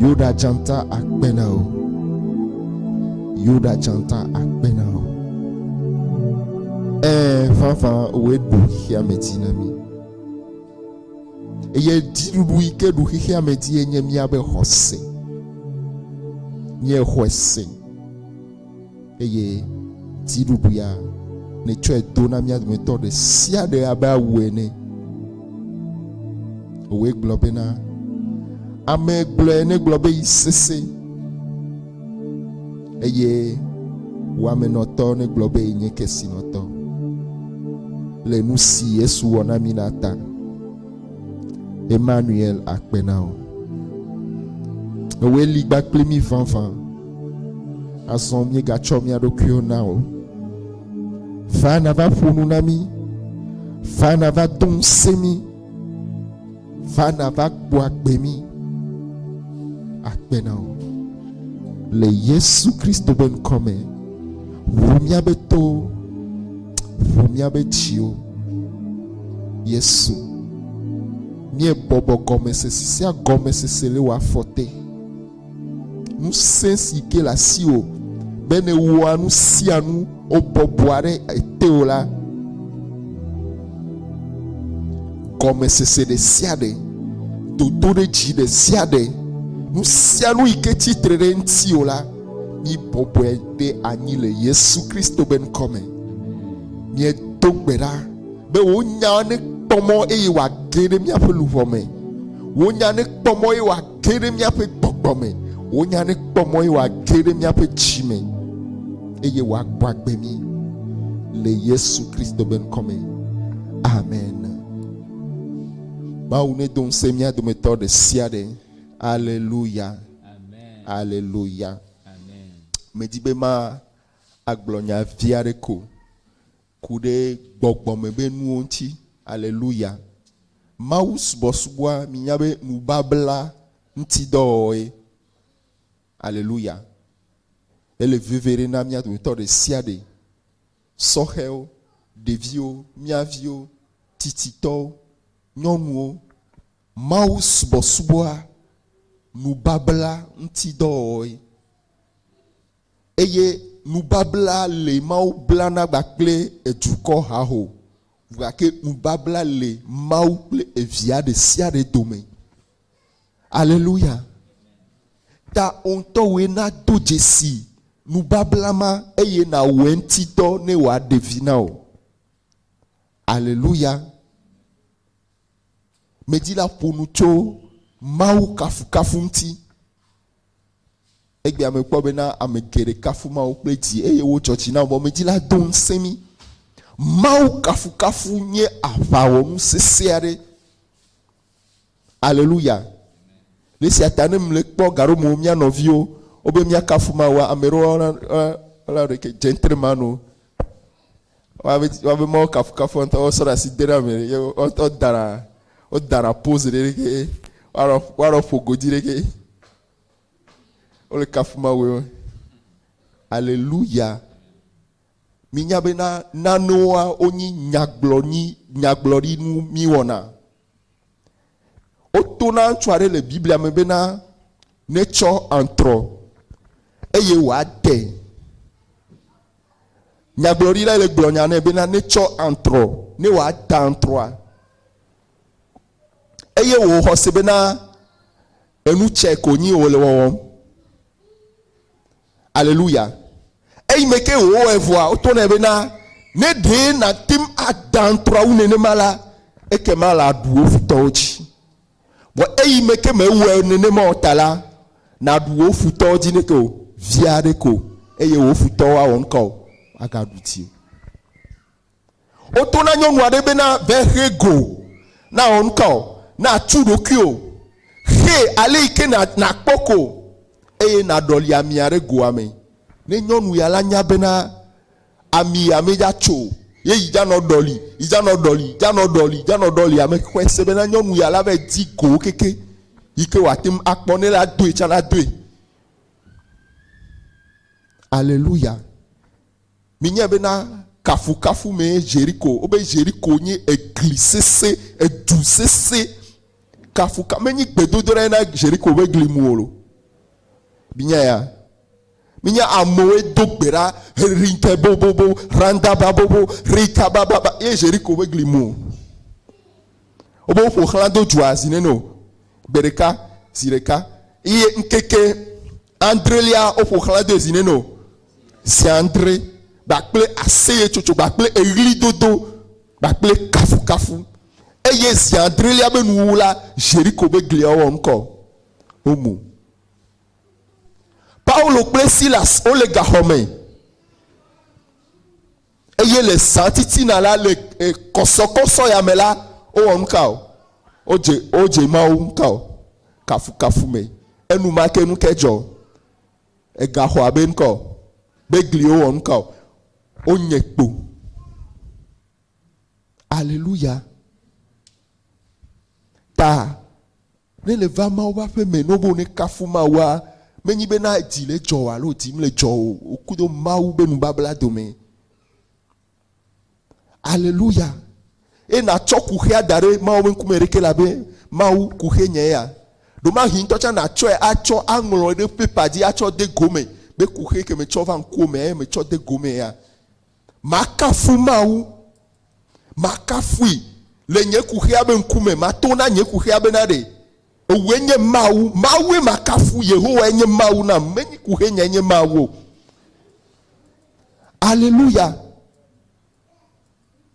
Yuda dzata akpe na wò. Yuda dzata akpe na wò. Ɛɛ, vavã wòe ɖu xexea me dzi na mí. Eye dziɖuɖu yi ke ɖu xexea me dzie nye míaƒe xɔse. Míexɔe se. Eye dziɖuɖuia, nètsɔe do na mía dometɔ ɖe sia ɖe abe awu ene. Wòe gblɔ bena, Ame gblɔe negblɔ be yi sese, eye wamenɔtɔ negblɔ be yi nye kesinɔtɔ, le nu si Yesu wɔ na mí la ta. Emmanuel akpe na wò. Ewòe li gba kpli mí vavã. Azɔ míegatsɔ mía ɖokuiwo na wò. Va nàva ƒo nu na mí. Va nàva do ŋusẽ mí. Va nàva kpɔ agbe mí. Akpe na wò. Le Yesu Kristo ƒe ŋkɔ me, ʋu míaƒe towo, ʋu míaƒe dziwo. Yesu, mie bɔbɔ gɔmesese sia gɔmesese le wa fɔte. Nusẽ si ke le asiwò be ne wɔa nu sia nu wobɔbɔa ɖe eteo la, gɔmesese ɖe sia ɖe, dodo ɖe dzi ɖe sia ɖe, nu sia nu yi ke tsitre ɖe ŋutiwò la, mi bɔbɔe ɖe anyi le Yesu Kristo be ŋkɔ me. Miedo gbe ɖa. be wò nya nekpɔ mɔ eye wòage ɖe míaƒe luʋɔ me. Wò nya nekpɔ mɔ eye wòage ɖe míaƒe gbɔgbɔ me. Wò nya nekpɔ mɔ eye wòage ɖe míaƒe dzi me eye wòagbɔ agbe mí le Yesu Kristo be ŋkɔ me. Amen. Mawu nedo ŋusẽ mía dometɔ ɖe sia ɖe. Aleluya. Aleluya. Medi be ma agblɔ nya vi aɖe ko Ku ɖe gbɔgbɔ me be nuwo ŋuti. Aleluya. Mawu subɔsubɔa, minya be nubabla ŋuti dɔwɔwɔe. Aleluya. Ele veve ɖe na mía dometɔ ɖe sia ɖe, sɔhɛwo, ɖeviwo, mía viwo, tsitsitɔwo, nyɔnuwo. Mawu subɔsubɔa, nubabla ŋuti dɔwɔwɔe. Eye nubabla li Mawu blana gba kple edukɔ haho, gake nubabla li Mawu kple evia ɖesiaɖe dome. Aleluya! Ta wò ŋutɔwoe nado dzesi nubabla ma eye nàwɔ eŋuti dɔ ne wòaɖe vi na wò. Aleluya! Medi la ƒo nu tso Mawu kafukafu ŋuti. Egbea mekpɔ bena ame geɖe kafu Mawu kple dzi eye wodzɔ dzi na wɔmedzi la do ŋusẽ mí. Mawu kafukafu nye aʋawɔnu sesẽ aɖe. Aleluya! Le esia ta ne mle kpɔ gaɖomewo mía nɔviwo wobe míakafu Mawua, ame ɖewo ɔla ɖeke dze ŋtre mano. Woabe Mawu kafukafu ŋutɔ, wosɔ ɖe asi de ɖe ame ɖe, wodana, wodana pose ɖe ɖeke, woanɔ, woanɔ ƒo godui ɖeke. Wole kafu Mawue me. Aleluya. Minya bena nanewoa wonyi nyagblɔnyi, nyagblɔɖinu miwɔna. Woto na ŋutsu aɖe le Biblia me bena netsɔ antrɔ eye wòade. Nyagblɔɖilae le gblɔ nya nɛ bena netsɔ antrɔ ne wòada antrɔa. Eye wòwɔ xɔse bena enu tsɛ ko nyi wòle wɔwɔm. Aleluya. Eyi me ke wòwɔe vɔa, woto nɛ bena, Ne ɖe nàte ŋu ada ŋutrɔ wu nenema la, ekema làɖu wò futɔwo dzi. Vɔ eyi me ke mèwɔe nenema o ta la, nàɖu wò futɔwo dzi neke o, vi aɖe ko, eye wò futɔwo awɔ nu ka o, woagaɖu dziwò. Woto na nyɔnu aɖe be na vexe go, na wɔ nuka o, na tu ɖokui o, xe ale yi ke na kpɔ ko eye na ɖɔli amia ɖe goa me. Ne nyɔnu ya la nya be na ami ya me dza tso o, ye yi dza nɔ ɖɔli, yi dza nɔ ɖɔli, dza nɔ ɖɔli, dza nɔ ɖɔli ame xɔe se be na nyɔnu ya la va yi di go keke yi ke wòate ŋu akpɔ ne la doe tsa na doe. Aleluya. Minyae bena kafukafu mee Ʒeriko, wobe Ʒeriko nye egli sesẽ, edu sesẽ, kafuka, menye gbedodoɖae na Ʒeriko ƒe gli mu o. Minyaya? Minya amewoe do gbe ɖa, Rinke bobobo, Randa babobo, Rika bababa, ye Ʒeriko ƒe gli mu o. Wobe woƒo xlã do dua zi nene o, gbe ɖeka, zi ɖeka, ye ŋkeke Adrelia, woƒo xlã de zi nɛ nɔ zi adre kpakple aseyetsotso kpakple eɣlidodo kpakple kafukafu. Eye zi adrelia be nuwuwu la, Ʒeriko be gliawo wɔ ŋkɔ womu. Paulo kple Silas wole gaxɔ me. Eye le zã titina la, le eh, kɔsɔkɔsɔ ya me la, wowɔ nu ka o? Wodze, wodze Mawu ŋu ka o? Kafukafu me. Enumake nu ke dzɔ. Egaxɔ abe ŋkɔ o. Be gliwo wɔ nu ka o? Wonye kpo. Aleluya. Ta Ne le va Mawu ƒe aƒe me nobo ne kafu Mawua, me nyi be na dzi le dzɔ o alo dzi mle dzɔ o, o kudo Mawu be nubabla dome. Aleluya. Eye na tsɔ kuxea da ɖe Mawu be ŋkume ɖeke la be, Mawu, kuxe nye ya. Ɖomahi ŋutɔ tsa na tsɔe a tsɔ a ŋlɔe ɖe paper dzi a tsɔ de go me be kuxe ke me tsɔ va ŋkuo mea ye me tsɔ de go me ya. Makafu Mawu. Makafui le nye kuxia be ŋkume. Mato na nye kuxia be naɖe. Ewòe nye Mawu. Mawue makafu. Yehowae nye Mawu nam. Menye kuxenyae nye Mawu o. Aleluya!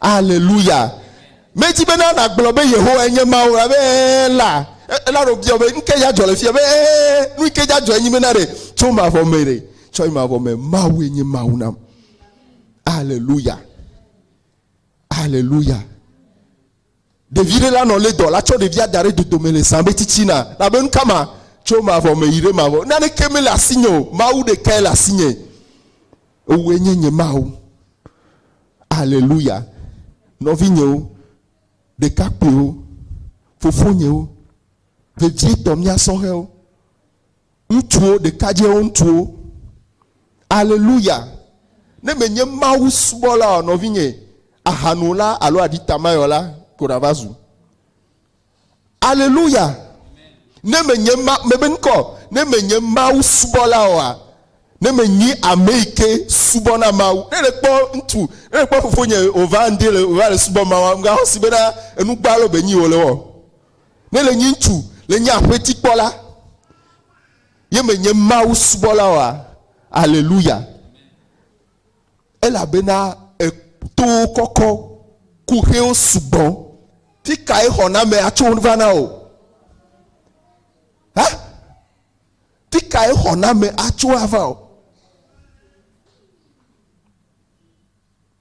Aleluya! Medi bena nàgblɔ be Yehowae nye Mawu la be ee la, ela ɖo bia be nuke ya dzɔ le fia be ee nuke ya dzɔ enyi bena ɖe tso mavɔ me ɖe tsɔ yi mavɔ me Mawue nye Mawu nam. Aleluya! Aleluya! Ɖevi ɖe la nɔ lé dɔ la tsɔ ɖevia da ɖe dodome le zã be tsitsina la be nu ka ma tso mavɔ me yi ɖe mavɔ. Naneke mele asinye o. Mawu ɖekae le asinye. Ewòe nye nye Mawu. Aleluya. Nɔvinyewo, ɖekakpuiwo, fofonyewo, vevietɔ mía sɔhɛwo. Ŋutsuwo, ɖekadzɛwo, ŋutsuwo. Aleluya! Ne mènye Mawu subɔla o, nɔvinye, ahanola alo aɖitamayɔla ko nàva zu. Aleluya! Ne mènye ma, mebe ŋkɔ, ne mènye Mawu subɔla oa, ne mènyi ame yi ke subɔna Mawu. Ne nèkpɔ ŋutsu, ne nèkpɔ fofonye wòva ŋdi le, wòva le subɔ Mawua, mègaxɔ si bena enu gbalo be nyii wòle wɔa o. Ne le nyi ŋutsu le nye aƒeti kpɔla ye me nye Mawu subɔla oa? Aleluya. Elabena etowo kɔkɔ, kuxewo sugbɔ. Fi kae xɔname atso va na o? Ha? Fi kae xɔname atso ava o?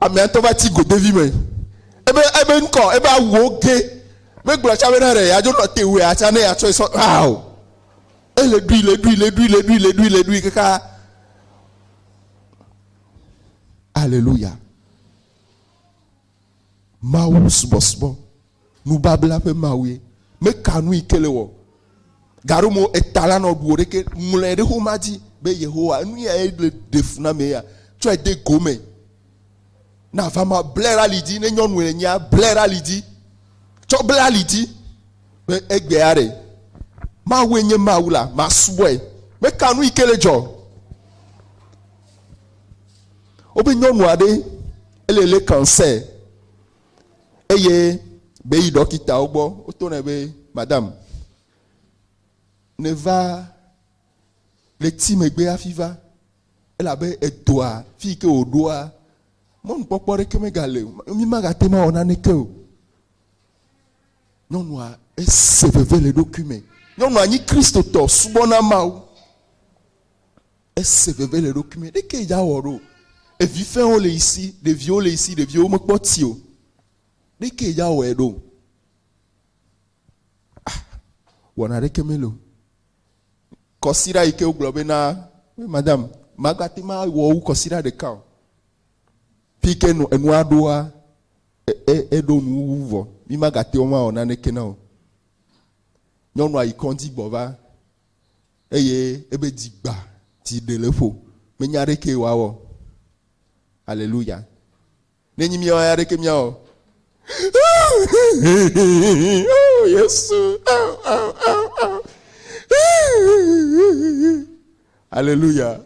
Amea ŋutɔ va ti godevi me. Ebe ebe ŋkɔ, ebe awuwo ge. Megblɔ tsã bena ɖe yeadzo nɔ te wua tsã ne yeatsɔe sɔ aa o. Ele ɖui, le ɖui, le ɖui, le ɖui, le ɖui, le ɖui kaka. Aleluya. Mawu subɔsubɔ. Nubabla ƒe Mawue. Meka nu yi ke le wɔ. Gaɖo mo eta la nɔ ɖuwò ɖeke. Ŋlɔe ɖe xoma dzi be Yehowa, enu ya ye le ɖe fu na mee ya. Tsɔe de go me. Na va ma ble ɖe ali dzi. Ne nyɔnue le nyea, ble ɖe ali dzi. Tsɔ ble ali dzi be egbea ɖe. Mawue nye Mawu la, masubɔe. Meka nu yi ke le dzɔ. Wobe nyɔnu aɖe ele le cancer. eye be yi ɖɔkitawo gbɔ woto nɛ be madam neva le ti megbe hafi va elabe edɔa fi yi ke wòɖoa mɔnukpɔkpɔ ɖeke megale o mi magate ma wɔ naneke o nyɔnua ese veve le ɖokui me nyɔnua nyi kristotɔ subɔna mawu Ese veve le eɖokui me. Ɖeke yi dza wɔ ɖo. Evi fɛwo le yi si. Ɖeviwo le yi si. Ɖeviwo me kpɔ ti o. Ɖeke yi dza wɔe ɖo. Ah, wɔna ɖeke me lo. Kɔsiɖa yi ke wogblɔ be na, madame, magbate ma wɔ wu kɔsiɖa ɖeka o. Fi ke nu, enua ɖoa, eɖo nu wu vɔ. Mi magate wo ma wɔ naneke na o. Nyɔnua yi kɔndzi gbɔ va. eye ebe dzi gba, dzi ɖe le ƒo, menya ɖekee wòawɔ. Aleluya. Ne nyi míawo ya ɖeke míawɔ. Oh, Yesu. Oh, oh, oh, oh. Aleluya.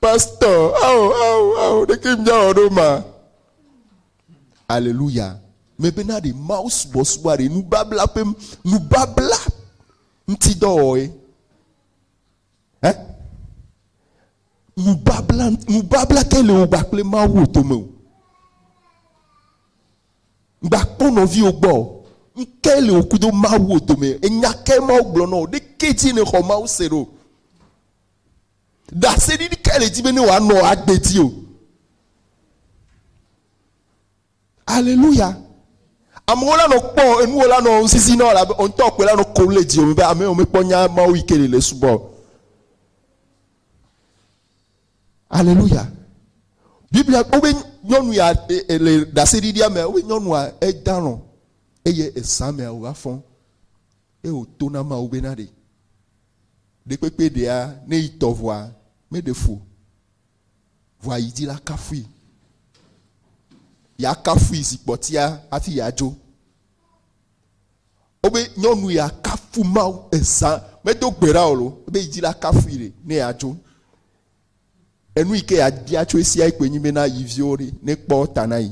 Pastor, oh, oh, oh, ɖeke míawɔ ɖo ma. Aleluya. Mebena ɖe Mawu subɔsubɔa ɖe nubabla ƒe nubabla ŋuti dɔ wɔe. Ɛ? Nubabla, nubabla ke le wò gbakple Mawu wò dome o. Gbakpɔ nɔviwo gbɔ o. Ŋke le wò kudo Mawu wò dome. Enya ke Mawu gblɔ nɔ wò ɖe ke dzi nèxɔ Mawu se ɖo. Ɖaseɖiɖi ke le dzi be ne wòanɔ agbe dzi o. Aleluya. Amewo la nɔ kpɔ enuwo la nɔ ŋsisi nɔ la be ontɔ kpe la nɔ ko le dzi omi be ame omi kpɔ nya mawo yi ke le le subɔ. Aleluya. Biblia wo be nyɔnu ya e, e, le ɖaseɖiɖia me wo be nyɔnua edalɔ eye esa mea wòva fɔ eye wòto na mawo be na ɖe. Ɖekpekpe ɖea ne yi tɔʋua meɖe fu o. Vɔa yi dila kafui. Ya kafui zi kpɔtia hafi ya dzo. Wobe nyɔnu ya kafu Mawu ezã medo gbe ɖa o lo. Ebe yi dila kafui ɖe ne ya dzo. Enu yi ke ya bia tso esia yi koe nyi bena yi viwo ɖe ne kpɔ ta na yi.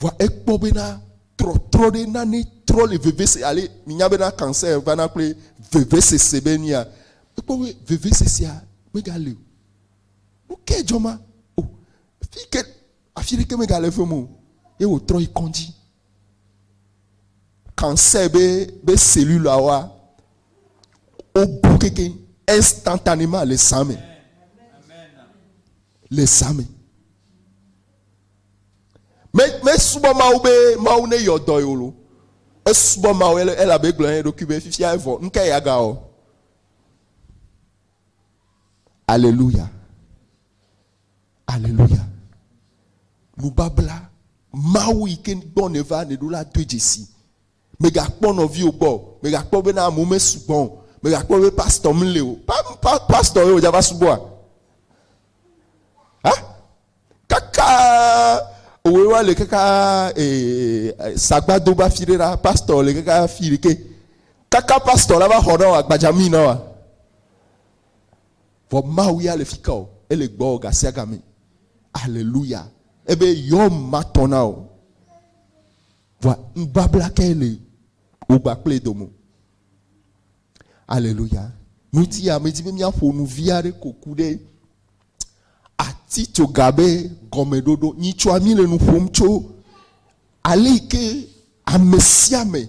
Vɔa ekpɔ bena trɔtrɔ ɖe nane trɔ le vevese ale minya bena cancer vana kple vevesese be nua. Ekpɔ be vevesesea mega le o. Nukae dzɔ ma? O, fike afi ɖeke mega le fem o. Ye wòtrɔ yi kɔndzi. Cancer be be celluleawoa wobu keke instantanément le zã me. Le zã me. Me mesubɔ Mawu be Mawu ne yɔ dɔ yeo lo. Esubɔ Mawu ele elabe egblɔ na eɖokui be fifia evɔ nuka ye aga wɔ. Aleluya. Aleluya. Nubabla Mawu yi ke gbɔ ne va ne ɖo la doe dzesi. Mega kpɔ nɔviwo gbɔ. Mega kpɔ be na amewo me sugbɔ. Mega kpɔ be pastor mle o. Pa, pa, pastor ye o dza va subɔa? Ha? kakaa òwe wa le kakaa ee sagbado ba fi ɖe la pastor le kakaa fi ɖe ke kaka pastor la va xɔ na wa gbadzami na wa vɔ mawu ya le fi ka o ele gbɔ gasia game aleluya ebe yɔ ma tɔ na o vɔ nubabla ke le wogba kple domo Aleluya. Ŋutia medi be míaƒo nu vi aɖe ko ku ɖe atitsoga be gɔmeɖoɖo. Nyitsɔa mí le nu ƒom tso ale yi ke ame sia ame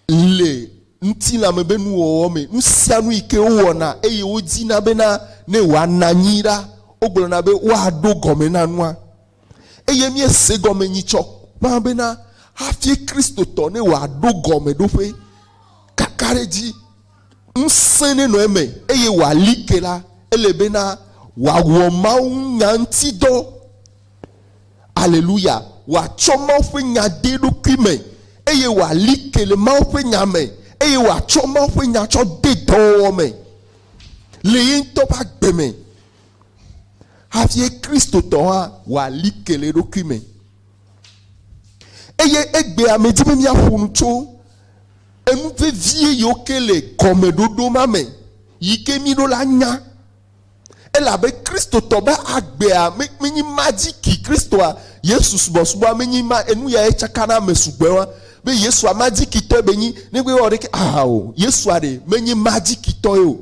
le ŋutilã me be nuwɔwɔ me. Nu sia nu yi ke wowɔna eye wodina bena ne wòana anyi la, wogblɔna be woaɖo gɔme na nua. Eye míese gɔme nyitsɔ ƒã bena hafi Kristotɔ ne wòaɖo gɔmeɖoƒe kakaɖedzi ŋusẽ nenɔ eme eye wòali ke la, ele bena wòawɔ mawunya ŋuti dɔ. Aleluya! Wòatsɔ Mawu ƒe Nya de eɖokui me eye wòali ke le Mawu ƒe Nya me eye wòatsɔ Mawu ƒe Nya tsɔ de dɔwɔwɔ me le ye ŋutɔ ƒe agbe me. Hafi Kristotɔ hã wɔa like le eɖokui me. Eye egbea medi be míaƒo nu tso enu vevie yiwo ke le gɔmeɖoɖo ma me yi ke mí ɖo la nya. Elabe Kristotɔ be agbea menye ma dzi ki Kristoa Yesu subɔsubɔa menye ma enu yae tsaka na ame sugbɔewa be Yesua ma dzi kitɔe be nyi negbe ewɔ ɖeke aha o. Yesua ɖe menye ma dzi kitɔe o.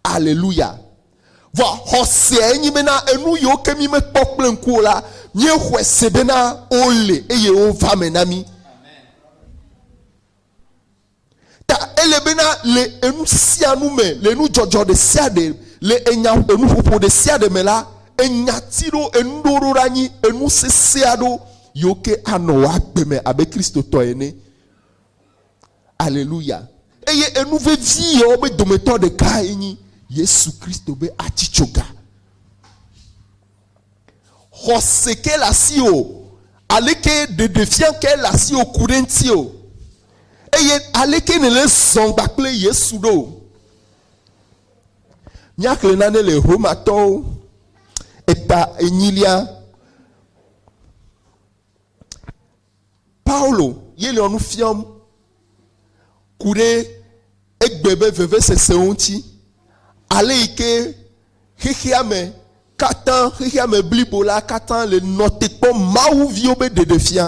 Aleluya! Vɔa xɔsea nyi bena enuyiwo ke mi mekpɔ kple ŋku o la, miexɔe se bena wole eye wova me na mi. Ta ele bena le enusianu me, le enudzɔdzɔ ɖesiaɖe, le enya enuƒoƒo ɖesiaɖe me la, enyati ɖo, enuɖewo ɖo ɖa nyi enu sesea ɖo yiwo ke anɔ wò agbe me abe Kristotɔ ene. Aleluya. Eye enu vevi yewo be dometɔ ɖekae nyi Yesu Kristo be atsi tso ga. Xɔse ke le asi o. Aleke ɖeɖefia ke le asi o ku ɖe ŋuti o. Eye aleke ne le zɔn gba kple Yesu ɖo. Míaxle nane le Romatɔwo eta enyilia Paulo ye le nu fiam ku ɖe egbe be vevesesewo ŋuti, ale yi ke xexea me katã, xexea me blibo la katã le nɔ te kpɔ Mawu viwo be ɖeɖefia.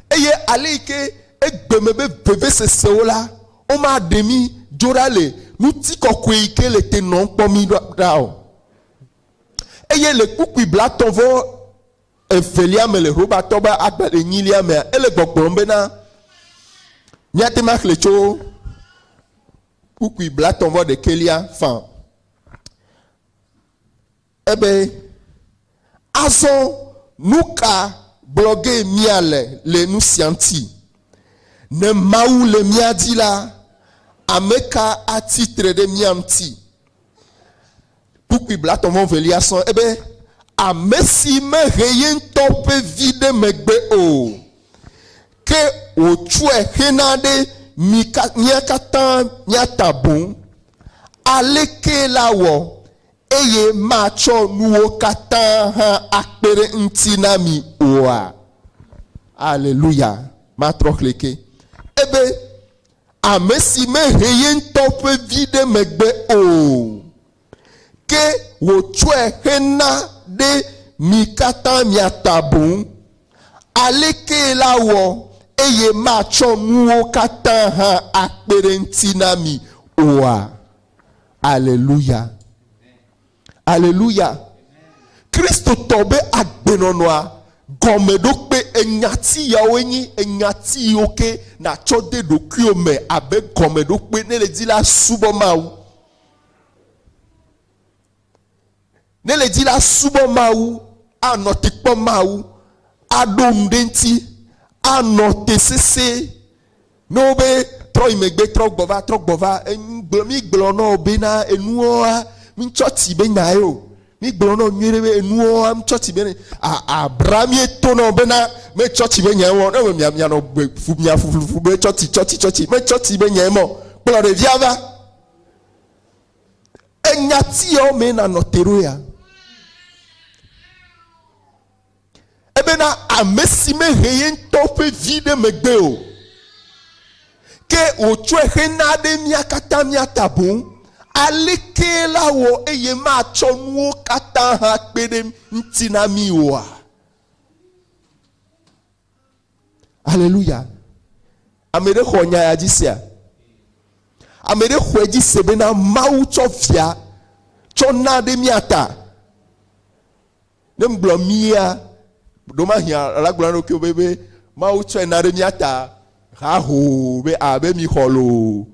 Eye ale yi ke egbe me be vevesesewo la, womaɖe mí dzo ɖa le ŋutikɔkɔe yi ke le te nɔm kpɔ mí ɖa o. Eye le kpukpui blatɔ̃ vɔ evelia me le Robatɔ be agba enyilia mea, ele gbɔgblɔm bena, Míate ŋu axlẽ tso kpukpui blatɔ̃ vɔ ɖekɛlia fã. Ebe, Azɔ nu ka gblɔ ge míale le nu sia ŋuti? Ne Mawu le mía dzi la, ame ka atsi tre ɖe mía ŋuti? Kpukpui blatɔ̃ vɔ evelia sɔ ebe amesi mehe yeŋtɔ ƒe vi ɖe megbe o, ke wòtsɔe hena ɖe mi ka mía katã mía ta boŋ. Alekee la wɔ eye matsɔ nuwo katã hã akpe ɖe eŋuti na mi oa? Aleluya! Matrɔ xlẽkee ebe. ame si mehe ye ŋutɔ ƒe vi ɖe megbe o, ke wòtsɔe hena ɖe mi katã mia ta boŋ. Alekee la wɔ eye matsɔ nuwo katã hã akpe ɖe eŋuti na mi oa? Aleluya! Aleluya! Kristotɔ be agbenɔnɔa gɔmeɖokpe enyati yawoe nyi enyati yiwo ke nàtsɔ de ɖokuiwò me abe gɔmeɖokpe ne le di la subɔ Mawu. Ne le di la subɔ Mawu, anɔ te kpɔ Mawu, aɖo nu ɖe ŋuti, anɔ te sesẽ Ne wo be, Trɔ yi megbe, trɔ gbɔ va, trɔ gbɔ va, enu gblɔ, mi gblɔ nɔ wo be na enuoa mi tsɔ ti be nya ye o. Mi gblɔ nɔ wo nyui ɖe be enuoa mi tsɔ ti be ne, a, a, bra mi to nɔ wo be na me tsɔ ti be nya ye mɔ, ne me mia, mia nɔ gbe fu, mia fu, fu, fu be tsɔ ti, tsɔ ti, tsɔ ti, me tsɔ ti be nya ye mɔ, kplɔ ɖevia va. Enya ti yawo me na nɔ te ɖo ya. Ebena ame si mehe ye ŋutɔ ƒe vi ɖe megbe o, ke wòtsɔe xe na ɖe mía katã mía ta boŋ, alekee la wɔ eye matsɔ nuwo katã hã kpe ɖe ŋuti na mí oa? Aleluya. Ame ɖe xɔ nya ya dzi sea? Ame ɖe xɔe dzi se bena Mawu tsɔ via tsɔ na ɖe mía ta. Ne mgblɔ mía, ɖomahi alagblɔ na ɖokuiwo be, be Mawu tsɔe na ɖe mía ta hahoo be a be mixɔ loo.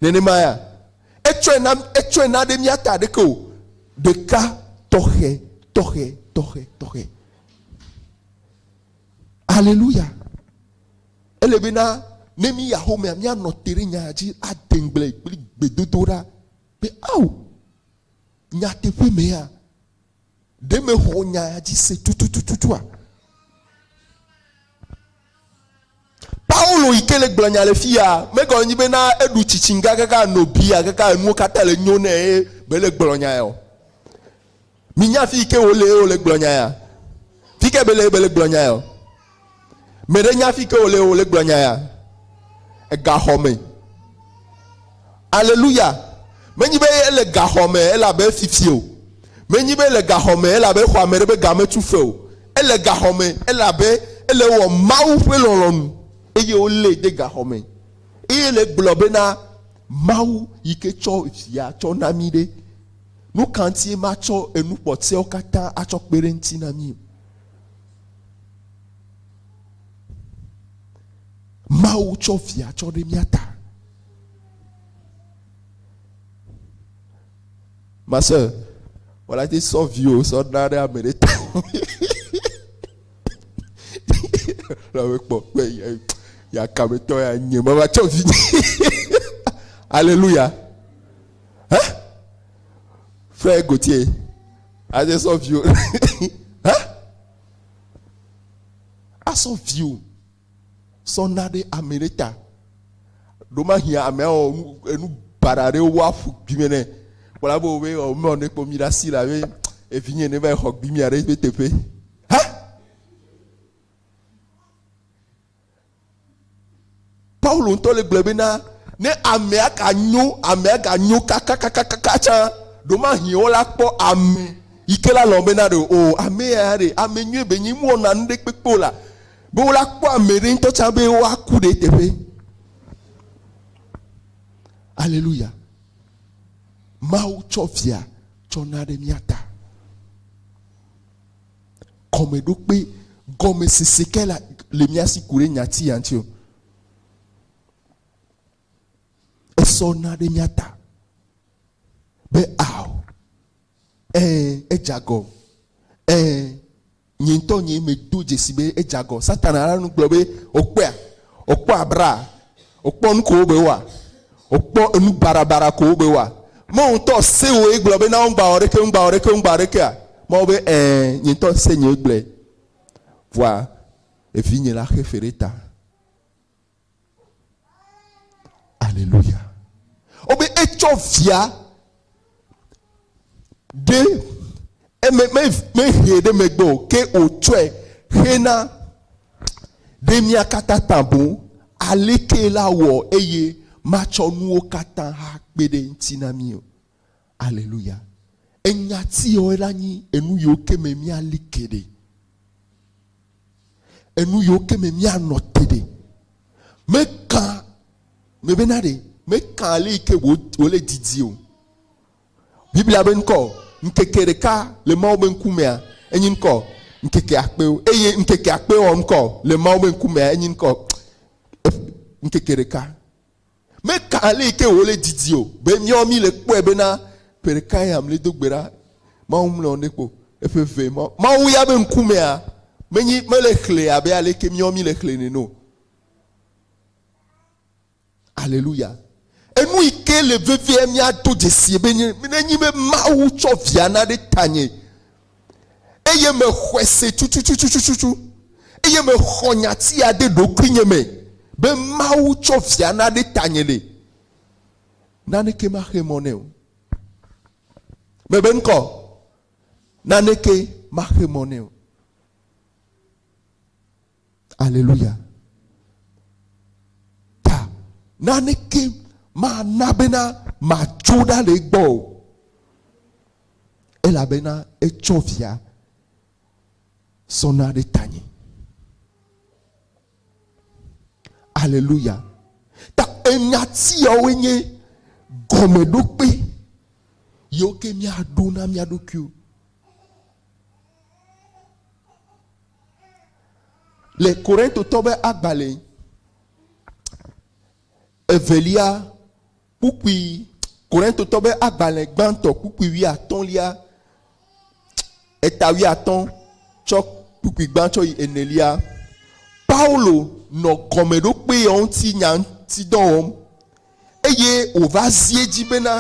Nenema ya. Etsɔe na, etsɔe na ɖe mía ta ɖeke o. Ɖeka tɔxɛ, tɔxɛ, tɔxɛ, tɔxɛ. Aleluya. Ele be na ne mi ya xɔmea míanɔ te ɖe nyaa dzi ade ŋugble kple gbedodoɖa be ao Nyateƒe mea, ɖe mexɔ nya ya dzi se tutututua? Paulo yi ke le gblɔ nya le fi ya megɔme nyi bena eɖu tsitsin gagaka no bia gaka enuwo katã le nyo nɛ eye bele gblɔ nya ya o. Minya fi yi ke wole eye wole gblɔ nya ya. Fi ke bele eye bele gblɔ nya ya o. Me ɖe nya fike wòle wòle gblɔ nya ya. Egaxɔ me. Aleluya. Menyi be ele gaxɔ me elabe fifie o. Menyi be ele gaxɔ me elabe xɔ ame ɖe be ga metu fe o. Ele gaxɔ me elabe ele wɔ Mawu ƒe lɔlɔ̃nu eye wolée de gaxɔ me. Eye le gblɔ bena, Mawu yi ke tsɔ via tsɔ na mí ɖe, nu ka ŋutie matsɔ enu kpɔtɔewo katã atsɔ kpe ɖe eŋuti na mí o? Mawu tsɔ via tsɔ ɖe mía ta. Ma sɔ wòla ti sɔ viwo sɔ na ɖe ame ɖe ta. La me kpɔ kpe ya ya kame tɔ ya nye ma va tsɔ vi. Alléluia. Hein? Frère Gauthier. Aze sɔ viwo. Hã? Asɔ viwo. Sɔ na ɖe ame ɖe ta. Ɖo ma hiã ame awɔ nu enu bara ɖe wo aƒu gbime ne. Kpɔla bo be o me ne kpɔ mi ɖe asi la be evinye ne va xɔ gbimia ɖe be teƒe. Hã? Paulo ŋutɔ le gblɔe bena, ne amea ganyo, amea ganyo kakakakaka tsã, ɖomahi wola kpɔ ame yi ke la lɔ̃ bena ɖe o, ame ya ya ɖe ame nyuie be nye mewɔna nu ɖe kpekpe o la, be wola kpɔ ame ɖe ŋutɔ tsã be woaku ɖe eteƒe. Aleluya. Mawu tsɔ via tsɔ na ɖe mía ta. gɔmeɖokpe gɔmesese ke la le mía si ku ɖe nyati ya ŋuti o. Esɔ na ɖe mía ta be ao, ɛ̃, edze agɔ, ɛ̃, nye ŋutɔ nye medo dzesi be edze agɔ. Satana la nu gblɔ be wòkpɔea, wòkpɔ abraa, Wokpɔ nu kowo be woa. Wokpɔ enu barabara kowo be woa. Mawu ŋutɔ se woe gblɔ be na wo ŋgba wɔ ɖeke, ŋgba wɔ ɖeke, ŋgba wɔ ɖekea? Mawu be, Ẽ, nye ŋutɔ se nyee gblɔe. Vɔa, evinye la xe fe ɖe ta. Aleluya. Wobe etsɔ via. Ɖe eme mehee ɖe megbe o, ke wòtsɔe xe na ɖe mía katã ta boŋ. Alekee la wɔ eye matsɔ nuwo katã akpe ɖe eŋuti na mí? Aleluya! Enyati yawoe la nyi enu yiwo ke me míali ke ɖe. enu yiwo ke me míanɔ te ɖe. Meka me bena ɖe meka ale yi ke wòle didi o. Biblia be ŋkɔ ŋkeke ɖeka le Mawu be ŋkumea enye ŋkɔ ŋkeke akpewo eye ŋkeke akpewo ŋkɔ le Mawu be ŋkumea enye ŋkɔ ŋkeke ɖeka. Meka ale yi ke wòle didi o be míawo míle kpɔe bena ƒe ɖeka ya mli do gbe ɖa Mawu mlɔ ne kpo eƒe vɛ ma. Mawu ya be ŋkumea menyi mele xlẽ abe ale yi ke míawo míle xlẽ nɛ o. Aleluya. Enu yi ke le vevie míado dzesie be nye ne nyi be Mawu tsɔ via na ɖe tanye. eye mexɔe se tutututututu, eye mexɔ nyatia de ɖokuinye me be Mawu tsɔ via na ɖe tanye nɛ. Naneke maxe mɔ nɛ o. Mebe ŋkɔ. Naneke maxe mɔ nɛ o. Aleluya. Ta naneke mana bena matso ɖa le egbɔ o. Elabena etsɔ via sɔna ɖe tanye. Aleluya. Ta enya tiawoe nye gɔmeɖokpe yiwo ke míaɖo na mía ɖokuiwo. Le Korintotɔ be agbalẽ evelia kpukpui, Korintotɔ be agbalẽ gbãtɔ kpukpui wuiatɔ̃lia, eta wuiatɔ̃ tsɔ kpukpui gbã tsɔ yi enelia, Paulo nɔ gɔmeɖokpeɔ ŋuti nya ŋuti dɔ wɔm eye wòva zi edzi bena,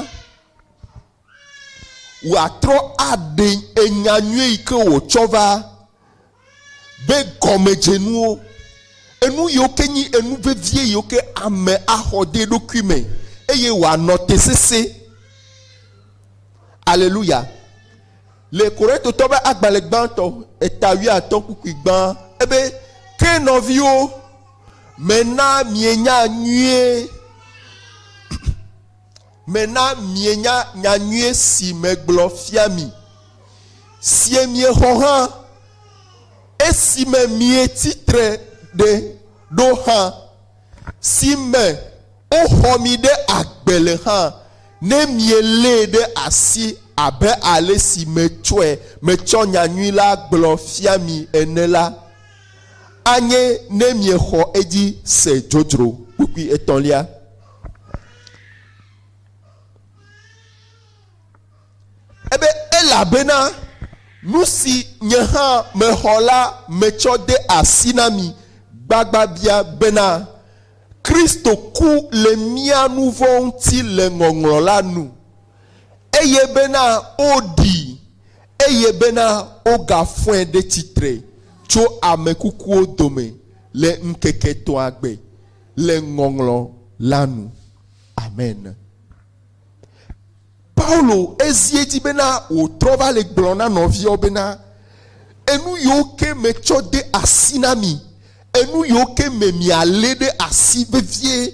wòatrɔ aɖe enya nyuie yi ke wòtsɔ va be gɔmedzenuwo, enu yiwo ke nyi enu vevie yiwo ke ame axɔ de eɖokui me eye wòanɔ te sesẽ. Aleluya. Le Korintotɔ ƒe agbalẽ gbãtɔ, eta wuiatɔ̃ kpukpui gbã ebe, Ke nɔviwo, mena mienya nyuie. me na mienya nya nyui si megblɔ fia mi, sie miexɔ hã, esime mietsi tre ɖe ɖo hã, si me woxɔ mi ɖe agbe le hã, ne mielée ɖe asi abe ale si metsɔe metsɔ nya nyui la gblɔ fia mi ene la, anye ne miexɔ edzi se dzodzro kpukpui etɔ̃lia. Ebe, Elabena nu si nye hã mexɔ la metsɔ de asi na mi gbagbabia bena, Kristo ku le mía nu vɔ̃ ŋuti le ŋɔŋlɔ la nu, eye bena woɖii, eye bena wogafɔe ɖe tsitre tso ame kukuwo dome le ŋkeke etɔ̃a gbe. le ŋɔŋlɔ la nu. Amen. Paulo ezi edzi bena wòtrɔ va le gblɔ na nɔviawo bena, Enu yiwo ke metsɔ de asi na mi, enu yiwo ke me mialé ɖe asi vevie,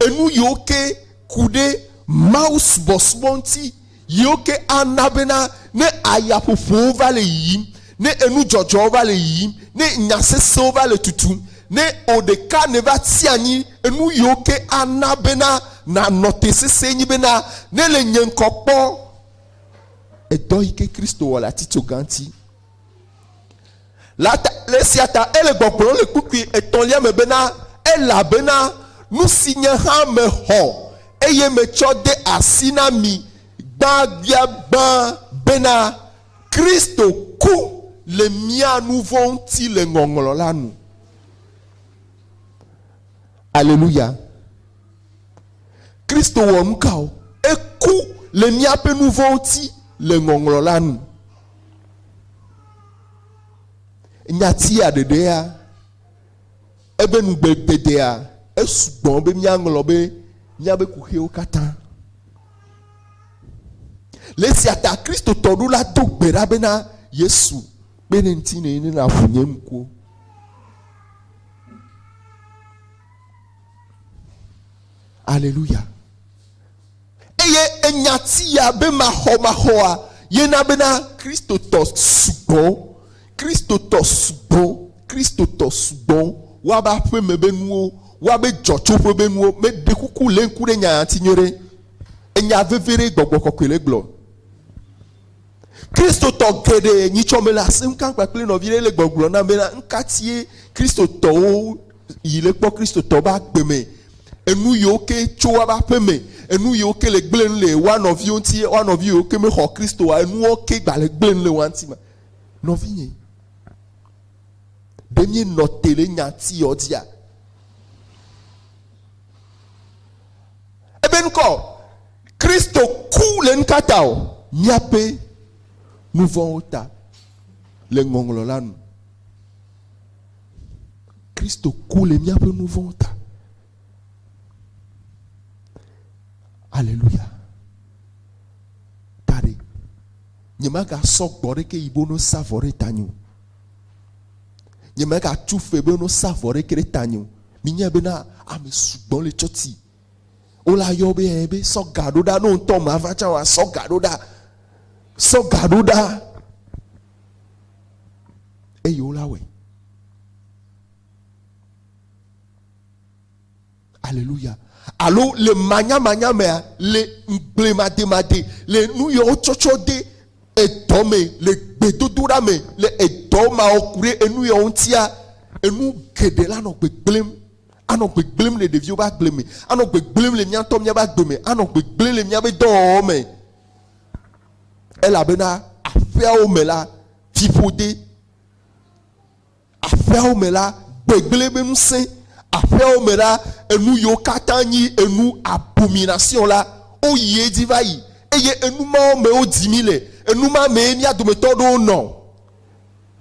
enu yiwo ke ku ɖe mawusubɔsubɔ ŋuti Yiwo ke ana bena ne ayaƒoƒowo va le yiyim, ne enudzɔdzɔwo va le yiyim, ne nya sesẽwo va le tutum, ne wò ɖeka nèva tsi anyi, enu yiwo ke ana bena nànɔ te sesẽe nye bena, ne le nye ŋkɔ kpɔ, edɔ yi ke Kristo wɔ le atitsoga ŋuti. Le esia ta ele gbɔgblɔm le kpukpui etɔ̃lia me bena, Elabena nu si nye hã mexɔ, eye metsɔ de asi na mi gbãgbiagbã bena, Kristo ku le mía nu vɔ̃ ŋuti le ŋɔŋlɔ la nu. Aleluya! Kristo wɔ nukawo? Eku le míaƒe nu vɔ̃ ŋuti le ŋɔŋlɔ la nu. Nyatia ɖeɖea ebe nugbegbedeea esugbɔ be míaŋlɔ be míabe kuxiwo katã. Le esia ta Kristotɔ ɖo la do gbe ɖa bena, Yesu, kpe ɖe ŋutinye eye nàƒu nye ŋkuwo. Aleluya. Eye enya ti ya be maxɔmaxɔa ye na bena Kristotɔ sugbɔ, Kristotɔ sugbɔ, Kristotɔ sugbɔ wa be aƒe me be nuwo, wa be dzɔtsoƒe be nuwo. Meɖe kuku le ŋku ɖe nya ya ŋuti nyuie ɖe. Enya vevi ɖe Gbɔgbɔ Kɔkɔe le gblɔ. Kristotɔ geɖe nyitsɔ mele asi ŋu kam kpakple nɔvi ɖe le gbɔgblɔ nam be na ŋkatie Kristotɔwo yi le kpɔ Kristotɔ be agbe me enu yiwo ke tso woƒe aƒe me enu yiwo ke le gblẽ nu le woa nɔviwo ŋuti woa nɔvi yiwo ke mexɔ Kristoa enuwo ke gba le gblẽ nu le woa ŋuti ma nɔvinye ɖe mie nɔ te le nya ti yɔ dzia ebe ŋkɔ. Kristo ku le nukata o? Míaƒe nuvɔ̃wo ta, le ŋɔŋlɔ la nu. Kristo ku le míaƒe nuvɔ̃wo ta. Aleluya. Tari. Nyemaga sɔ gbɔ ɖe ke yibo no sa vɔ ɖe tanyo. Nyemaga tu fe be no sa vɔ ɖe ke ɖe tanyo. Minya bena ame sugbɔ le tsɔti. Wo la yɔ be ɛ be sɔ ga ɖo ɖa no ŋutɔ ma va tsa wa sɔ ga ɖo ɖa. Sɔ ga ɖo ɖa. Eye wo la wɛ. Aleluya. Alo le manyamanya mea, le ŋgble mademade, le nu yɔ wotsɔtsɔ de edɔ me, le gbedodoɖa me, le edɔ mawɔ ku ɖe enu yɔ ŋutia, enu geɖe la nɔ gbegblẽm. anɔ gbegblẽm le ɖeviwo ƒe agble me, anɔ gbegblẽm le míawo ŋutɔ míaƒe agbe me, anɔ gbegblẽm le míaƒe dɔwɔwɔ me. Elabena aƒeawo me la, fiƒode, aƒeawo me la, gbegblẽ ƒe ŋusẽ, aƒeawo me la, enu yiwo katã nyi enu abomination la, woyi edzi va yi. Eye enu mawo mee wodi mí le. Enu ma mee mía dometɔ aɖewo nɔ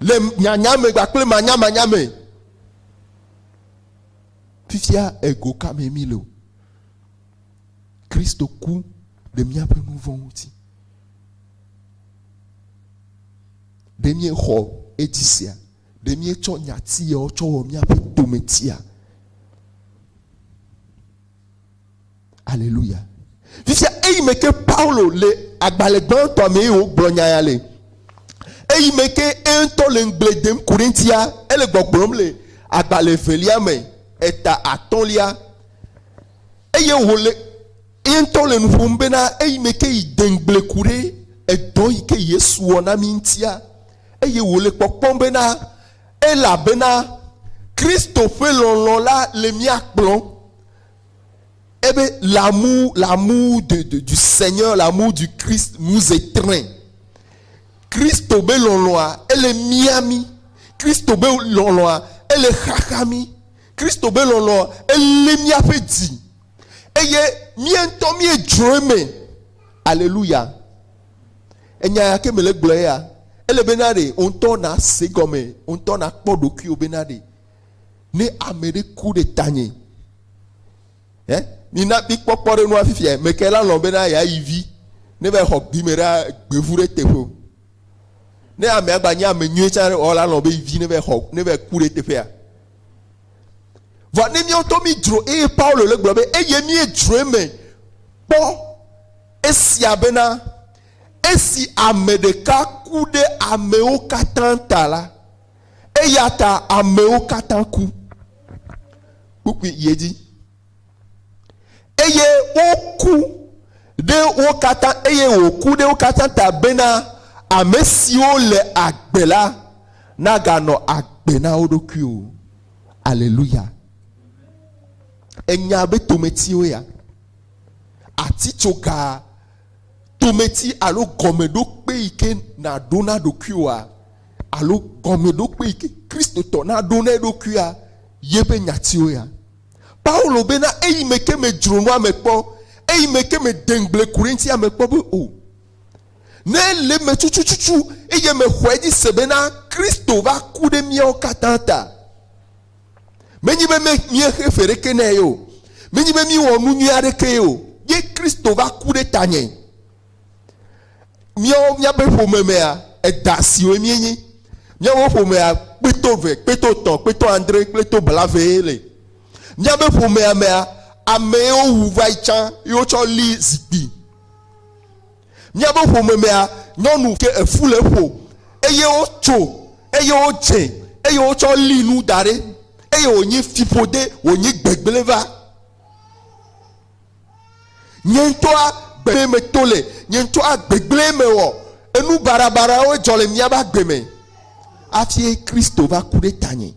le nyanyame kpakple manyamanya me. Fifia ego ka me mi le o. Kristo ku ɖe míaƒe nu vɔ̃ ŋuti. Ɖe míexɔ edzi sia? Ɖe míetsɔ nyati yawo tsɔ wɔ míaƒe tometia? Aleluya. Fifia eyi me ke Paulo le agbalẽ gbãtɔ me yewo gblɔ nya ya le. Eyi me ke eŋutɔ le ŋgble dem Korintia ele gbɔgblɔm le agbalẽ velia me eta atɔlia. Eye wòle eŋutɔ le nu ƒom bena eyi me ke yi de ŋgble ku ɖe edɔ yi ke Yesu wɔ na mi ŋutia eye wòle kpɔkpɔm bena Elabena Kristo ƒe lɔlɔ̃ la le mía kplɔm, ebe l'amour, l'amour de, de, du Seigneur, l'amour du Christ nous étreint. Kristo be lɔlɔ̃a, ele mia mí. Kristo be lɔlɔ̃a, ele xaxa mí. Kristo be lɔlɔ̃a, elé míaƒe dzi. Eye mía ŋutɔ míedzroe me. Aleluya. Enya ya ke mele gblɔ ya, ele be na ɖe wò ŋutɔ nàse egɔme, wò ŋutɔ nàkpɔ ɖokuiwò be na ɖe ne ame ɖe ku ɖe tanye. Ɛ? Mina mikpɔ kpɔɖeŋu afifia. Meke la lɔ̃ bena yeayi vi ne va xɔ gbime ɖe gbevu ɖe teƒe o. Ne amea gba nye ame nyuie tsã ɔ la lɔ̃ be vi ne va xɔ ne va ku ɖe teƒea. Vɔ ne míawo ŋutɔ mídzro eye Paulo le gblɔ be eye míedzro eme kpɔ esia bena, Esi ame ɖeka ku ɖe amewo katã ta la, eya ta amewo katã ku kpukpui yi edzi. Eye woku ɖe wo katã, eye wòku ɖe wo katã ta bena ame siwo le agbe la naganɔ agbe na wo ɖokui o. Aleluya! Ènya be tometiwo ya? atitsoga, tometi alo gɔmeɖokpe yi ke nàɖo na ɖokuiwòa alo gɔmeɖokpe yi ke Kristotɔ naɖo na eɖokuia ye ƒe nyatiwo ya. Paulo bena, Eyi me ke medzro nua me kpɔ, eyi me ke mede ŋugble ku ɖe eŋuti ame kpɔ be o. Ne ele eme tutututu eye mexɔe dzi se bena Kristo va ku ɖe míawo katã ta. Menye be míexe fe ɖeke nɛ o. Menye be míewɔ nu nyui aɖekee o. Ye Kristo va ku ɖe tanye. Míawo míaƒe ƒome mea, edã siwoe míenye. Míaƒe ƒomea, kpeto ve, kpeto tɔ̃, kpeto andre, kpeto blavee le. Míaƒe ƒomea mea, amee wowu va yi tsã ye wotsɔ li zikpui. Míaƒe ƒome mea, nyɔnu ke efu le eƒo, eye wotso, eye wodze, eye wotsɔ li nu da ɖi, eye wònyi fiƒode, wònyi gbegblẽ va. Nye ŋutɔa gbegblẽ me to le, nye ŋutɔa gbegblẽ me wɔ, enu baɖabaɖawo dzɔ le míaƒe agbe me, afie Kristo va ku ɖe tanye.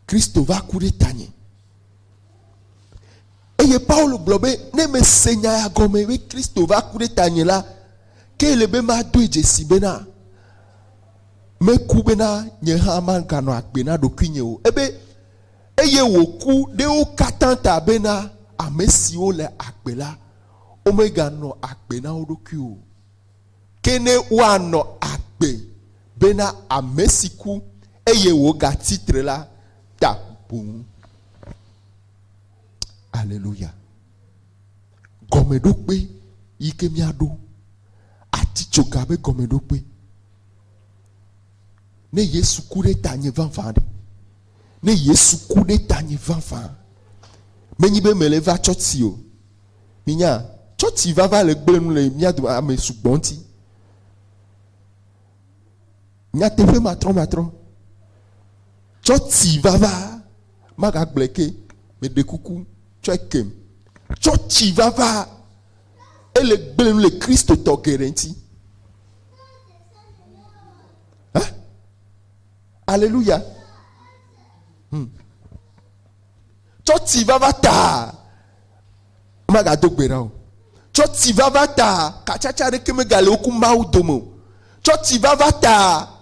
Kristo va ku ɖe tanye. Eye Paulo gblɔ be ne mese nya ya gɔme be Kristo va ku ɖe tanye la, ke ele be madoe dzesi bena meku bena nye hã maganɔ agbe na ɖokuinye o. Ebe eye wòku ɖe wo katã ta bena ame siwo le agbe la, womeganɔ agbe na wo ɖokui o. Ke ne woanɔ agbe bena ame si ku eye wògatsi tre la ta boŋ. Aleluya. Gɔmeɖokpe yi ke míaɖo ati tso ga be gɔmeɖokpe. Ne Yesu ku ɖe tanye vavã ɖe, ne Yesu ku ɖe tanye vavã, menyi be mele va tsɔtsi o. Minya, tsɔtsi vava le gblẽ nu le mía dome ame sugbɔ ŋuti. Nyateƒe matrɔmatrɔ, tsɔtsi vava magagblẽ ke. Meɖe kuku, tsɔe kem. Tsɔtsi vava ele gblẽ nu le Kristotɔ geɖe ŋuti. Aleluya. Hmm. Tsɔ tsi vava ta. Magado gbe ɖa o. Tsɔ tsi vava ta. Katsatsa aɖeke megale wo ku Mawu dome o. Tsɔ tsi vava ta.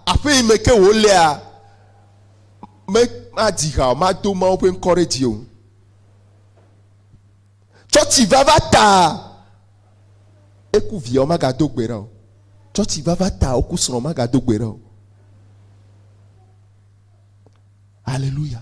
Aƒe yi me ke wòlea, me, madzi ha o. Mado Mawu ƒe ŋkɔ ɖe dzi o. Tsɔ tsi vava ta. Eku via o, magado gbe ɖa o. Tsɔ tsi vava ta. Woku srɔ̃, magado gbe ɖa o. Aleluya.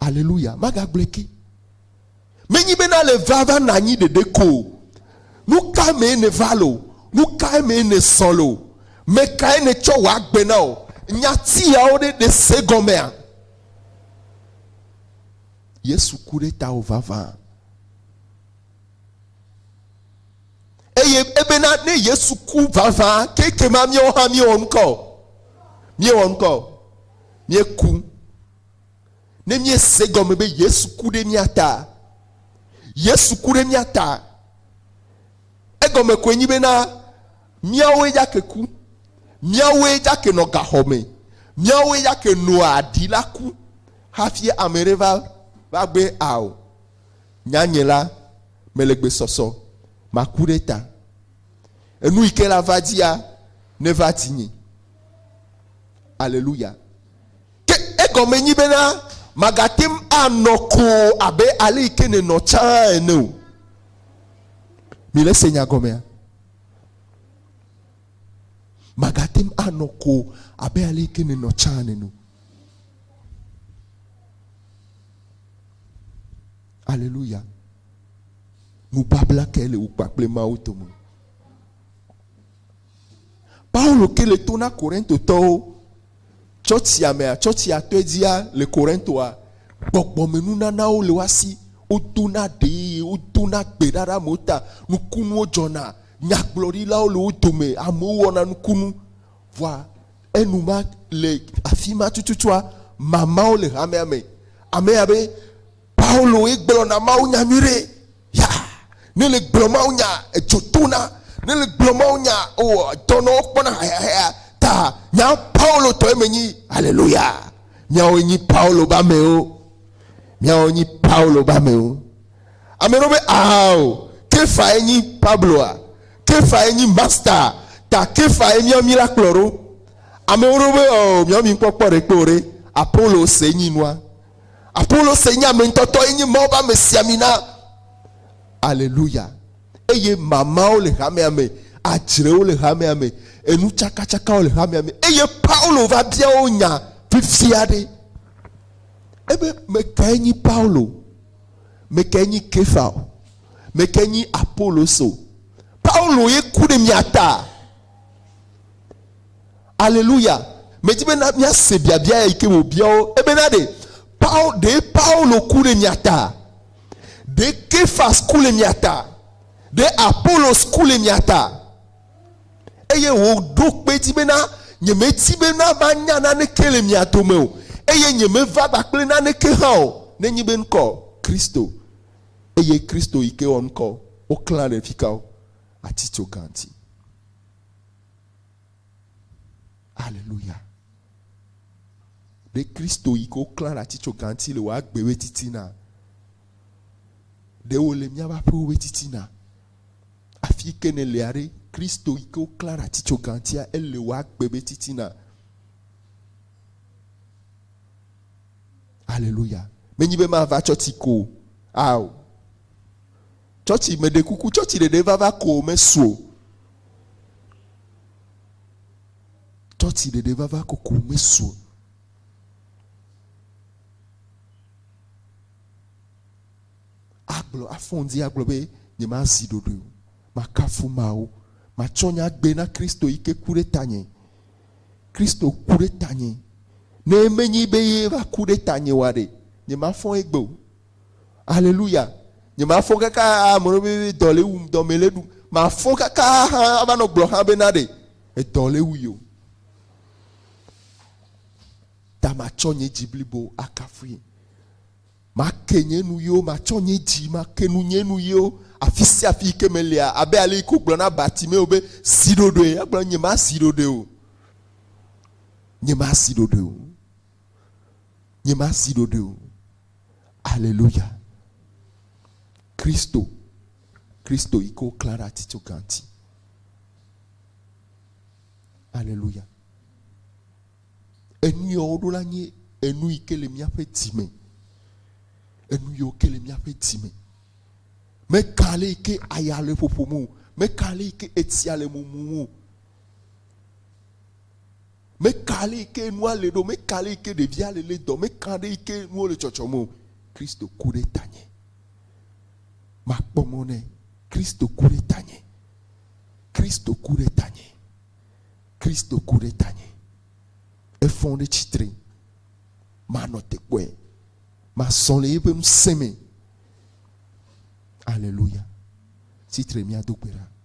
Aleluya! Magagblɔe ke. Menyi be nale vava na anyi ɖeɖe ko o. Nu ka mee nèva le o, nu kae mee nèzɔ le o, me kae nètsɔ wɔ agbe na o, nya siawo ɖe nèse gɔmea? Yesu ku ɖe tawò vavã. Eye ebena ne Yesu ku vavã, ke ekema míawo hã míewɔ nu ka o? Míewɔ nu ka o? Míeku. Ne míese egɔme be Yesu ku ɖe mía ta, Yesu ku ɖe mía ta, egɔme koe nyi bena míawoe dzake ku, míawoe dzake nɔ gaxɔ me, míawoe dzake noa ɖi la ku hafi ame ɖe va va gbe ao. Nya nye la, mele gbe sɔsɔ, maku ɖe ta. Enu yi ke la va dzia, neva dzinye. Aleluya. Ke egɔme nyi bena màgate ŋu anɔ koo abe ale yi ke nènɔ tsã ene o. Milese nya gɔmea? Màgate ŋu anɔ koo abe ale yi ke nènɔ tsã ene o. Aleluya. Nubabla kae le wò kpakple Mawu dome? Paulo ke le to na Korintotɔwo. Tsɔtsia mea, tsɔtsia tɔe dzia le Korintoa, gbɔgbɔmenunanawo le woa si, wodona ɖee, wodona gbe ɖa ɖe amewo ta, nukunuwo dzɔna, nyagblɔɖilawo le wo dome, amewo wɔna nukunu. Vɔa enuma le afi ma tututua, mamawo le hamea me. Amee abe, Pauloe gblɔna mawunya nyuiɖe. Ya, ne le gblɔ mawo nya, edzo tona. Ne le gblɔ mawo nya, o, dɔnɔwo kpɔna hayahaya. Ta nya Paulo tɔe me nyi. Aleluya. Miawo nyi Paulo ba mewo. Miawo nyi Paulo ba mewo. Ame ɖewo be, ao, Kefae nyi Pabloa. Kefae nyi Masta. Ta Kefae miawo mi la kplɔ ɖo. Amewo ɖewo be, o, miawo mi ŋkpɔ kpɔ ɖe kpe o ɖe. Apolo se nyi nua. Apolose nye ameŋutɔtɔ, enye Mawu ƒe amesiamina. Aleluya. Eye mamawo le hamea me, adzrewo le hamea me, enutsakatsakawo le hamea me. Eye Paulo va bia wo nya vivi aɖe. Ebe, mekae nyi Paulo? Mekae nyi Kefa? Mekae nyi Apolose? Paulo ye ku ɖe mia ta. Aleluya! Medi be na míase biabia ya yi ke wòbia wo ebena ɖe Paul ɖe Paulo ku le mia ta? Ɖe Kefas ku le mia ta? Ɖe Apolos ku le mia ta? Eye wòɖo kpe edzi bena, Nyemedi bena manya naneke le mia dome o, eye nyemeva kpakple naneke hã o, nenye be ŋkɔ Kristo, eye Kristo yi ke wɔ ŋkɔ woklã ɖe fika o, atitso gã ti. Aleluya. Ɖe Kristo yi ke woklã ɖe ati tso gãti le wò agbewoe titina. Ɖe wòle míaƒe aƒewoe titina. Afi yi ke nèlea ɖe, Kristo yi ke woklã ɖe ati tso gãtia, ele wò agbebe titina. Aleluya. Menyi be mava tsɔ ti ko o. Ao. Tsɔtsi, meɖe kuku, tsɔtsi ɖeɖe vava ko mesu o. Tsɔtsi ɖeɖe vava ko ko mesu o. Agblɔ, afɔ ŋdi agblɔ be nyemazi ɖoɖoe o. Makafu Mawu. Matsɔ nye agbe na Kristo yi ke ku ɖe tanye. Kristo ku ɖe tanye. Ne menye be ye va ku ɖe tanye oa ɖe, nyemafɔ egbe o. Aleluya. Nye mafɔ kaka aa mɔɖe be dɔ le wum, dɔ me le ɖum. Mafɔ kaka hã ava nɔ gblɔ hã be na ɖe edɔ le wu yo. Ta matsɔ nye dzi blibo akafui. Make nye nu yo, matsɔ nye dzi, make nu nye nu yo, afi sia afi yi ke melia, abe ale yi ke wogblɔ na Bartimeo be zi ɖoɖoe. Egblɔ nye ma zi ɖoɖoe o. Nye ma zi ɖoɖoe o. nye masi ɖoɖoe o. Aleluya. Kristo, Kristo yi ke woklã ɖe atitsoga ŋuti. Aleluya. Enu ya woɖo la nye enu yi ke le míaƒe dzi me. Enu yi ke le míaƒe dzi me. Meka ale yi ke aya le ƒoƒom o. Meka ale yi ke etsia le mumum o. Meka ale yi ke nua le ɖo, meka ale yi ke ɖevia le le dɔ, meka ale yi ke nuwo le tsɔtsɔm o, Kristo ku ɖe tanye. Makpɔ mɔ nɛ. Kristo ku ɖe tanye. Kristo ku ɖe tanye. Kristo ku ɖe tanye. Efɔ ɖe tsitre. Manɔ te kpɔe. Masɔ le eƒe ŋusẽ me. Aleluya. Tsitre mía do gbe ɖa.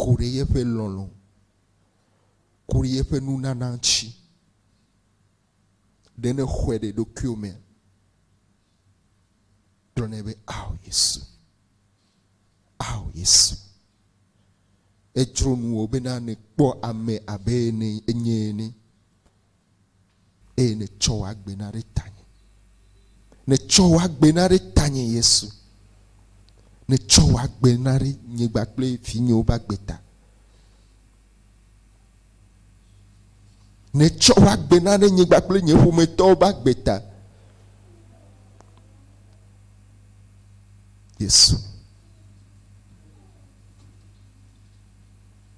ku ɖe yeƒe lɔlɔ̃, ku ɖe yeƒe nunana ŋuti. Ɖe nèxɔe ɖe ɖokuiwò me gblɔ nɛ be, Ao Yesu, ao Yesu. Edzro nuwò bena nèkpɔ ame abe enye ene. Eye nètsɔ w'agbe na ɖe tanye. Nètsɔ w'agbe na ɖe tanye, Yesu. Nètsɔ w'agbe na ɖe nye kpakple vinyewo be agbe ta. Nètsɔ w'agbe na ɖe nye kpakple nye ƒometɔwo be agbe ta. Yesu.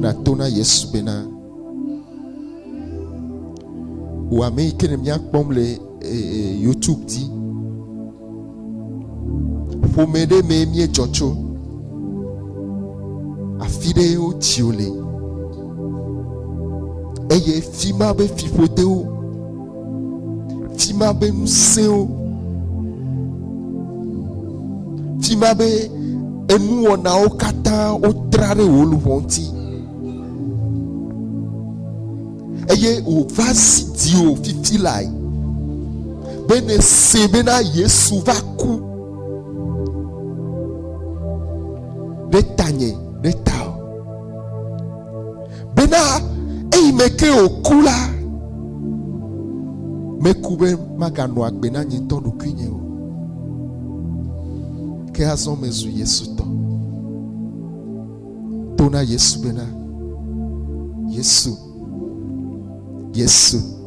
nato na Yesu bena, wò ame yi ke ne míakpɔm le YouTube dzi, ƒome ɖe mee míedzɔ tso, afi ɖe wotsio le eye fi ma be fiƒodewo. Ti ma be ŋusẽwo, ti ma be enuwɔnawo katã wotra ɖe wò luʋɔ ŋuti. Eye wòva zi diwò fifi lae be nèsee bena Yesu va ku ɖe tanye ɖe tawò. Bena eyi me ke wòku la, meku be maganɔ agbe na nye ŋutɔ ɖokuinye o. Ke azɔ mezu Yesu tɔ. To na Yesu bena, Yesu, Yesu.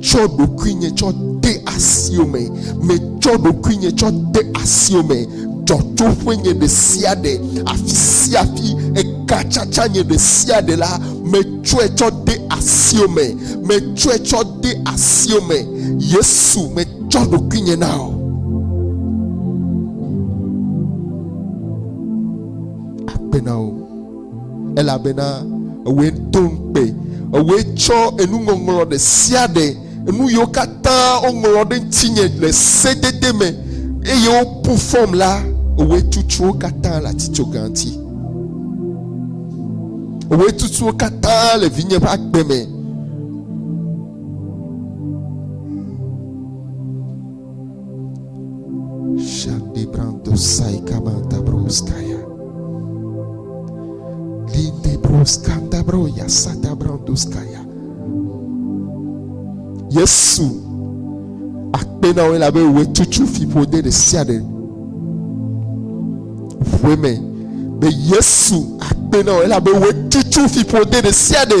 tsɔ ɖokuinye tsɔ de asio me metsɔ ɖokuinye tsɔ de asio me dzɔtsoƒe nye ɖe sia ɖe afi sia afi ekatsatsa nye ɖe sia ɖe la metsɔe tsɔ de asio me metsɔe tsɔ de asio me yesu metsɔ ɖokuinye na o akpe na o elabena ewòe do ŋukpe, ewòe tsɔ enuŋɔŋlɔ ɖe sia ɖe, enu yiwo katã woŋlɔ ɖe ŋutinye le sedede me, eye wobu fɔm la, ewòe tutu wo katã le atitsoga ŋuti. Ewòe tutu wo katã le vinye ƒe agbe me. Yesu akpe na wo elabe wòe tutu fiƒode ɖe sia ɖe. Ƒoe me be Yesu akpe na wo elabe wòe tutu fiƒode ɖe sia ɖe.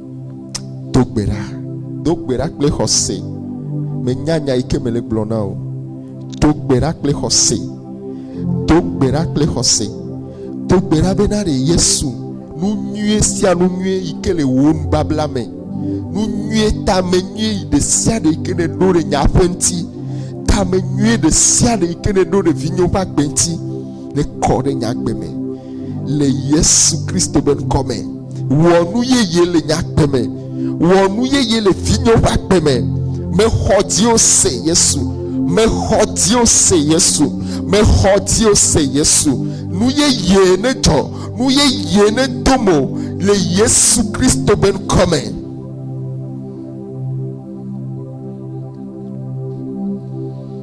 Do gbe ɖa. Do gbe ɖa kple xɔse. Menya nya yi ke mele gblɔ na o. Do gbe ɖa kple xɔse. Do gbe ɖa kple xɔse. Do gbe ɖa be na ɖe Yesu nu nyuie sia nu nyuie yi ke le wò nubabla me. Nu nyuie tame nyuie yi ɖe sia ɖe yi ke ne ɖo ɖe nya ƒe ŋuti. Tame nyuie ɖe sia ɖe yi ke ne ɖo ɖe vinyewo ƒe agbe ŋuti. Nekɔ ɖe nye agbe me le Yesu Kristo ƒe ŋkɔ me. Wɔ nu yeye le nye agbe me. Wɔ nu yeye le vinyewo ƒe agbe me. Mexɔ dziwo se Yesu. Mexɔ dziwo se Yesu. Mexɔ dziwo se Yesu. Nu yeye ne dzɔ. Nu yeye ne do mo le Yesu Kristo ƒe ŋkɔ me.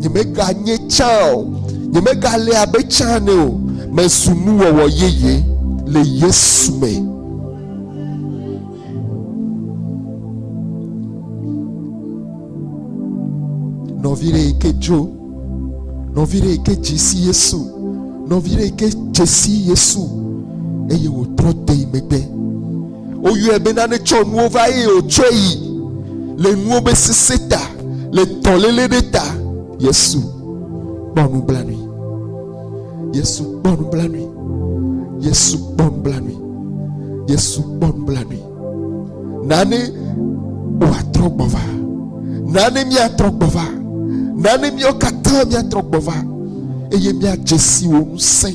Nyemeganye tsã o. Nyemegale abe tsã ene o. Mezu nuwɔwɔ yeye le Yesu me. Nɔvi ɖe yi ke dzo, nɔvi ɖe yi ke dzi si Yesu, nɔvi ɖe yi ke dze si Yesu eye wòtrɔ de yi megbe. Woyɔe be nane tsɔ nuwo va eye wòtsɔe yi le nuwo be sesẽ ta, le dɔléle ɖe ta. Yesu kpɔ nublanui. Yesu kpɔ nublanui. Yesu kpɔ nublanui. Yesu kpɔ nublanui. Nane wòatrɔ gbɔ va. Nane míatrɔ gbɔ va. Nane míawo katã míatrɔ gbɔ va eye míadze si wò ŋusẽ.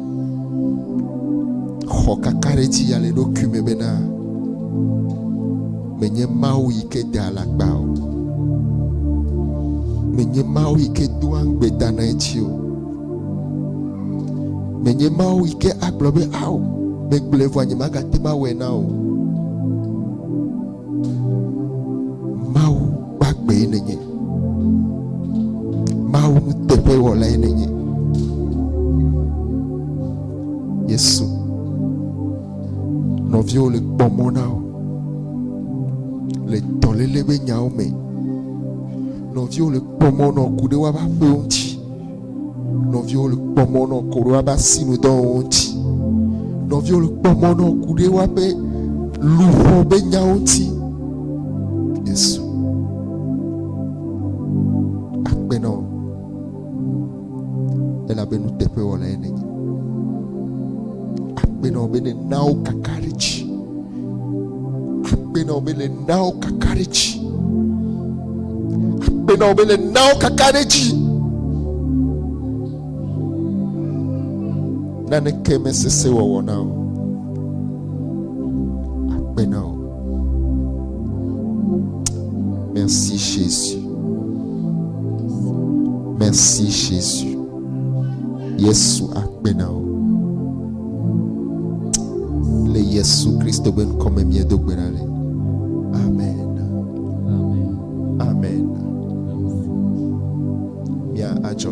xɔ kakaɖedzi ya le ɖokui me bena menye Mawu yi ke de alakpa o. Menye Mawu yi ke doa ŋugbe dana edzi o. Menye Mawu yi ke agblɔ be ao megblɔe vɔ nyemagate mawɔe na o. Mawu gbagbe nènye. Mawu nuteƒewɔlae nènye. Yesu, nɔviwo le kpɔ mɔ na wo le dɔléle ƒe nyawo me. Nɔviwo le kpɔ mɔ nɔ ku ɖe woƒe aƒewo ŋuti. Nɔviwo le kpɔ mɔ nɔ koɖo aba sinu dɔwo ŋuti. Nɔviwo le kpɔ mɔ nɔ kuɖe waƒe luʋɔ be nyawo ŋuti. Yesu akpe nɔ elabe nuteƒewɔla ye nenye. Akpe nɔ be nenawo kaka ɖe dzi. Akpe na wò be le nawo kaka ɖe dzi. Akpe na wò be le nawo kaka ɖe dzi. Naneke mesese wɔwɔ na wò. Akpe na wò. Merci Jésus. Merci Jésus. Yesu akpe na wo. Le Yesu Kristo ƒe ŋkɔ me miedo gbe ɖa le. Amen. Amen. Amen. Mia adzɔ.